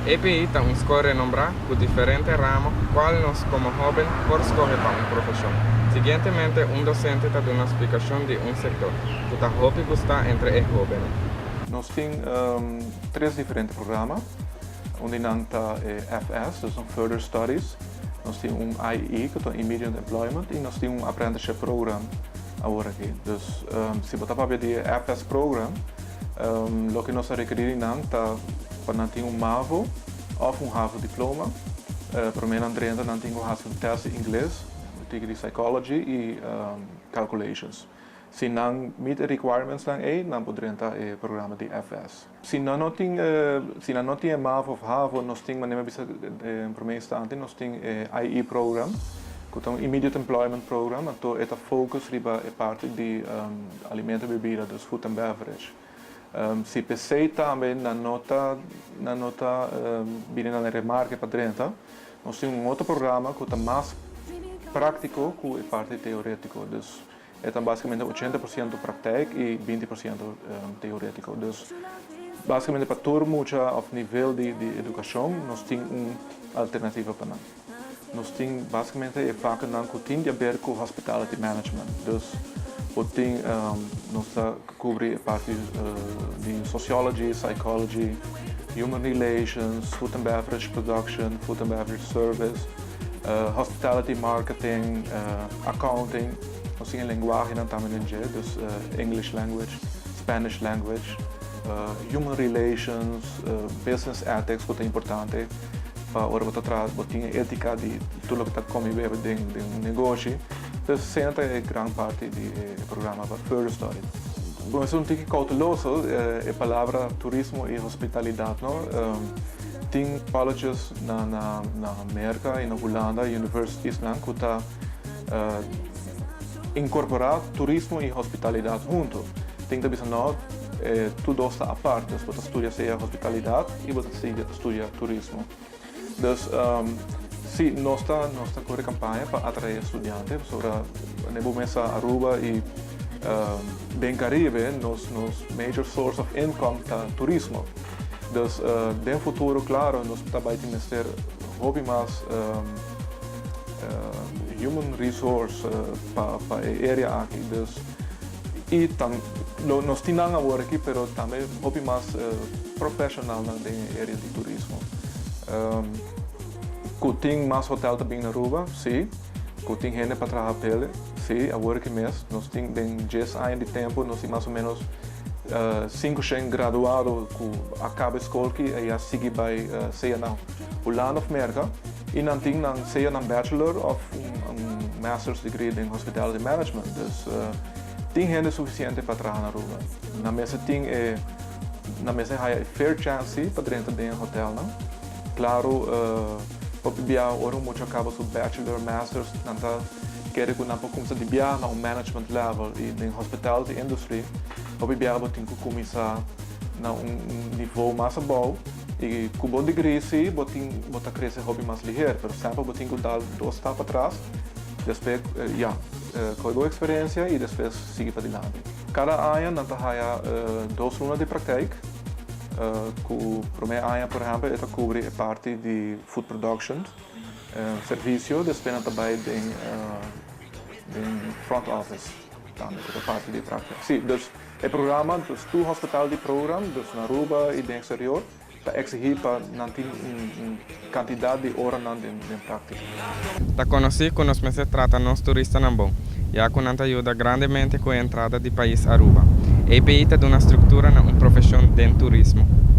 AP ta un skol renombrá ku diferente ramo ku kual nos komo hóben por skohe pa un profeshon. Siguientemente un dosente ta duna splikashon di un sekto ku ta hopi gustá entre e hóbennan. Nos tin tres diferente programa. Un di nan ta e FS, dus un Further Studies, nos tin un IE cu ta un Immediate Employment y nos tin un Apprenticeship Program awor aki. Dus si bo ta papia di e FS Program, loke nos a rekeri di nan ta pa nan tin un MAVO of un HAVO Diploma. Prome nan drenta nan tin cu haci un test di Ingles, un tiki di Psychology y Calculations. Si nan meet e requirements nan ey, nan por drenta e programa di FS. Si nan no tin e, si nan no tin e mavo of havo, nos tin manera mi a bisa den prome instanti, nos tin e IE program, ku ta un Immediate Employment Program, anto e ta focus riba e parti di alimento i bebida, dus food and beverage. Si pesei tambe nan no ta, nan no ta bini na den remarke pa drenta, nos tin un otro programa ku ta mas praktiko ku e parti teoretiko, dus E ta basikamente ochenta por siento praktijk i binti por siento teoretiko. Dus basikamente pa tur mucha òf nivel di edukashon nos tin un alternativa pa nan. Nos tin basikamente e vakenan ku tin di aber ku hospitality management. Dus bo tin nos ta. Kubri e parti di sociology, psychology, human relations, food and beverage production, food and beverage service, hospitality marketing, accounting, also e lenguahenan tambe dje, dus English language, Spanish language, human relations, business ethics ku ta importante pa ora bo ta traha bo tin e etika di tur loke ta komi bebe den un negoshi. Ta centra e gran parti di e programa pa Purestoi. Cu nos un tiki cauteloso, e palabra turismo y hospitalidad no tin paloches na Merca y na Hulanda universitiesnan cu ta incorpora turismo y hospitalidad hunto. Tin ta bisa no, e tur dos ta aparte. Bo ta studia sea hospitalidad y bo ta sigue ta studia turismo. Dus si, nos ta nos ta kore kampaña pa atraé studiante pasobra ne bo mesa Aruba i den Karibe nos nos major source of income ta turismo. Dus den futuro klaro nos ta bai tin mester hopi mas human resource pa pa e area aki. Y tam nos tin nan awor aki pero tambe hopi mas profesionalnan den e area di turismo. Cu tin mas hotel ta bini na Aruba? Si. Cu tin hende pa traha pa el'e? Si, awor aki mes. Nos tin den dies aña di tempo nos tin mas o menos sinku shen graduado cu a caba e scol aki y a sigui bay sea now. Hulanda of Merka, y nan tin nan sea nan bachelor of un master's degree den hospitality management. Dus tin hende suficiente pa traha na Aruba. Nan mester tin e, nan mester haya e fair chance pa drenta den e hotelnan. Claro, hopi bia ora un mucha caba su bachelor, master's, nan ta kere cu nan por cuminsa di bia na un management level. Y den hospitality industry, hopi bia bo tin cu cuminsa na un nivo mas abao. I ku bo digrí si, bo tin bo ta krese hopi mas liher. Pero semper bo tin ku da dos stap atras, despe ya, kohe bo eksperensia i despe sigui padilanti. Kada aña nan ta haya dos luna di praktijk, ku promé aña por ehèmpel e ta kubri e parti di food production, servisio, despe nan ta bai den front office tambe ku ta parti di e praktika. Si, dus. E programa dus tur hospital di Program, dus na Aruba y den exterior, ta exigi pa nan tin un un cantidad di oranan den den practica. Ta conoci cu nos mester trata nos turistanan bon, ya cu nan ta yuda grandemente cu e entrada di pais Aruba. API ta duna structura na un profesion den turismo.